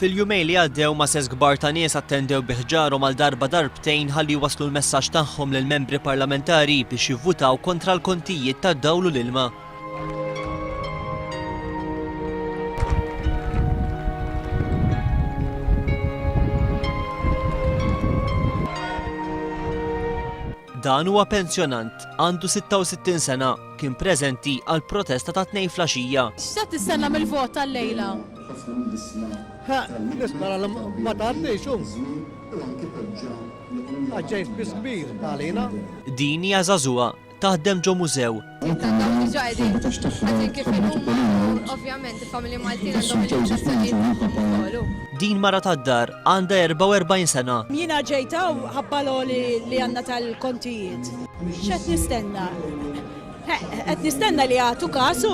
Fil-jumejn li għaddew mases kbar ta' nies attendew bi ħġarhom għal darba darbtejn ħalli jwasslu l-messaġġ tagħhom lill-membri parlamentari biex jivvutaw kontra l-kontijiet tad-dawl u l-ilma. Dan huwa pensjonant, għandu 66 sena, kien preżenti għall-protesta tat-Tnejn flaxija. X'se tistenna mill-vot tal-lejla? Nispera li ma tgħaddix u għax ġej spiss kbir għalina. Din hija żagħżugħa, taħdem ġo mużew. Din mara tad-dar għandha 44 sena. Jiena ġejt hawn ħabba l-għoli li għandna tal-kontijiet. X'qed nistenna? Qed nistenna li jagħtu każ u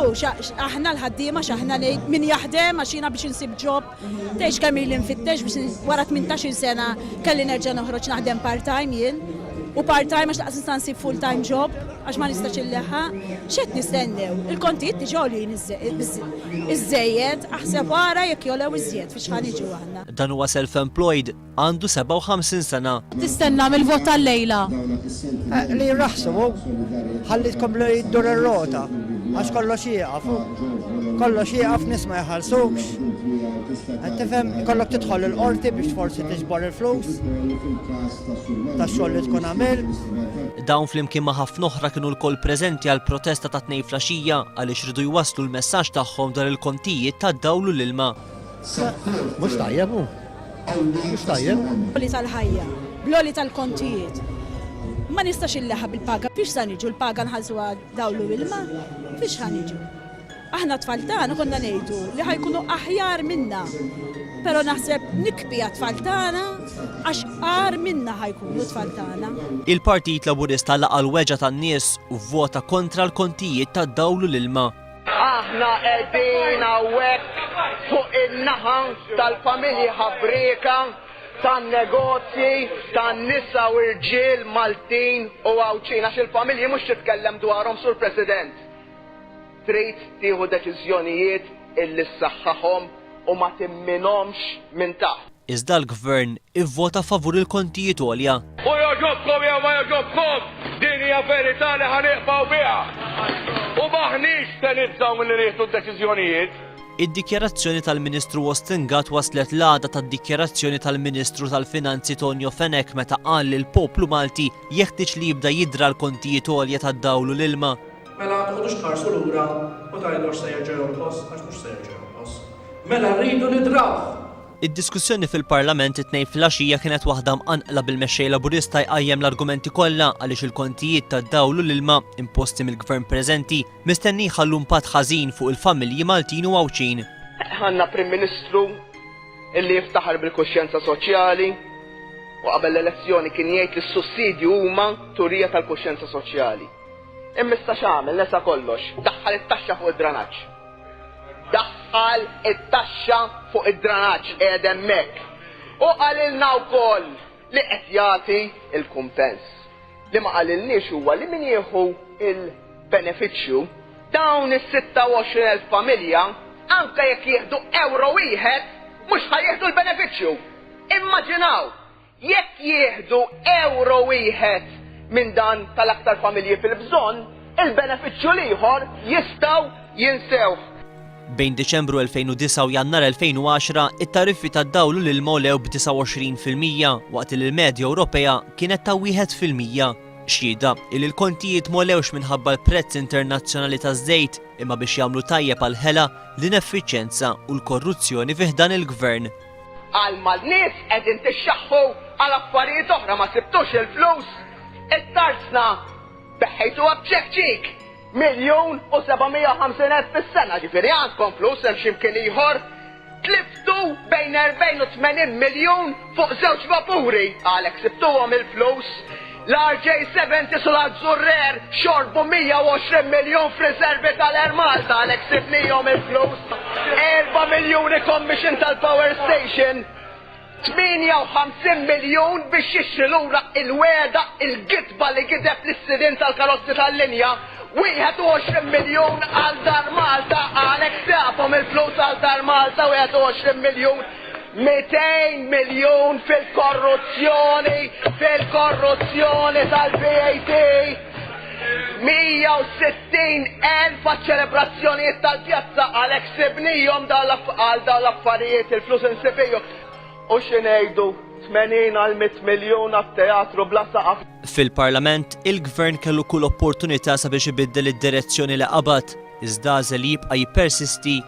aħna l-ħaddiema x'aħna ngħid min jaħdem għax jiena biex insib job Tgħidx kemm ili nfittex biex wara tmintax-il sena kelli nerġa' noħroġ naħdem part-time jien, u part-time għax lanqas nista' nsib full-time job għax ma nistax inleħħaq. X'qed nistennew? Il-kontijiet diġà għoljin iż-żejjed, aħseb ara jekk jogħlew iżjed fiex ħa niġu aħna. Dan huwa self-employed? Għandu 57 sena. Tistenna mill-vot tal-lejla? Li jirraħsmu, ħalli tkompli ddur ir-rota, għax kollox jieqaf. Kollox jieqaf, nies ma jħallsukx. Qed tifhem, ikollok tidħol il-qorti biex forsi tiġbor il-flus tax-xogħol li tkun għamilt. Dawn flimkien ma' ħafna oħra kienu lkoll preżenti għall-protesta tat-Tnejn flaxija għaliex ridu jwasslu l-messaġġ tagħhom dwar il-kontijiet tad-dawl u l-ilma. Mhux tajjeb hu. Mhux tajjeb. L-għoli tal-ħajja, bl-għoli tal-kontijiet. Ma nistax illeħħa bil-paga, fiex sa niġu l-paga nħallsuha dawlu ilma, fiex ħa niġu. Aħna tfal tagħna konna ngħidu li ħajkunu aħjar minna. Però naħseb nikbi għat-tfal tagħna għax qar minna ħajkunu tfal tagħna. Il-Partit Laburista laqa' l-weġgħa tan-nies u vvota kontra l-kontijiet tad-dawl u l-ilma. Aħna qegħdin hawnhekk fuq in-naħa tal-familji ħabrieka, tan-negozji, tan-nisa u rġiel Maltin u Għawdxin għax il-familji mhux titkellem dwarhom Sur President. Trid tieħu deċiżjonijiet illi ssaħħaħhom u ma timminhomx minn taħt. Iżda l-Gvern ivvota favur il-kontijiet għolja. U jogħġobkom jew ma jogħġobkomx, din hija verità li ħa niqbgħu biha. U m'aħniex se nibżgħu milli nieħdu d-deċiżjonijiet. Id-dikjarazzjoni tal-Ministru Austin Gatt waslet l-għada tad-dikjarazzjoni tal-Ministru tal-Finanzi Tonio Fenech meta qal li l-poplu Malti jeħtieġ li jibda jidra l-kontijiet għolja tad-dawl u l-ilma. Mela toqgħodux tħarsu lura u tgħidu għax se jerġa' jonqos, għax mhux se jerġa' jonqos. Mela rridu nidrawh! Id-diskussjoni fil-Parlament it-Tnejn filgħaxija kienet waħda mqanqla bil-Mexxej Laburista jqajjem l-argumenti kollha għaliex il-kontijiet tad-dawl u l-ilma imposti mill-Gvern preżenti mistenni jħallu impatt ħażin fuq il-familji Maltin u Għawdxin. Għandna Prim Ministru li jiftaħar bil-kuxjenza soċjali u qabel l-elezzjoni kien jgħid li s-sussidji huma turija tal-kuxjenza soċjali. Imma issa x'għamel? Nesa kollox. Daħħal it-taxxa fuq id-dranaġġ. Dak qal it-taxxa fuq id-dranaġġ qiegħed hemmhekk. Hu qalilna wkoll li qed jagħti l-kumpens. Li ma qalilniex huwa li min jieħu l-benefiċċju, dawn is-26 elf familja, anke jekk jieħdu ewro wieħed, mhux ħa jieħdu l-benefiċċju. Immaġinaw! Jekk jieħdu ewro wieħed minn dan tal-aktar familji fil-bżonn, il-benefiċċju l-ieħor jistgħu jinsewh. Bejn Diċembru 2009 u Jannar 2010, it-tariffi tad-dawl u l-ilma għolew b'29 fil-mija waqt li l-medja Ewropea kienet ta' wieħed fil-mija. Xhieda li l-kontijiet m'għolewx minħabba l-prezz internazzjonali taż-żejt imma biex jagħmlu tajjeb għall-ħela, l-ineffiċjenza u l-korruzzjoni fi ħdan il-Gvern. Għal ma l-nies qegħdin tixxaħħu għal affarijiet oħra ma sibtux il-flus? It-tarzna beħħejtuha b'ċekk ċik, miljun u seba' mija u ħamsin elf fis-sena, ġifieri għandkom flus hemm xi mkien ieħor? Tliftu bejn erbgħin u tmenin miljun fuq żewġ vapuri, għalhekk sibtuhom il-flus? L-RJ70 Sul Azzurrer xorbu 120 miljun f'riservi tal-Air Malta għalhekk sibnihom il-flus. Erba' miljuni commission tal-power station, 58 miljun biex jixtri lura il-wegħda, il-gidba li gideb lis-sidien tal-karozzi tal-linja, 21 miljun għal Dar Malta għalhekk sibhom il-flus għal Dar Malta 21 miljun. 200 miljun fil-korruzzjoni, fil-korruzzjoni tal-VAT, 160 elf għaċ-ċelebrazzjonijiet tal-pjazza għalhekk sibnihom għal dawn l-affarijiet il-flus insibihom. U xi ngħidu, 80 għal 100 miljun għat-teatru bla saqaf. Fil-Parlament, il-Gvern kellu kull opportunità sabiex ibiddel id-direzzjoni li qabad, iżda għażel jibqa' jippersisti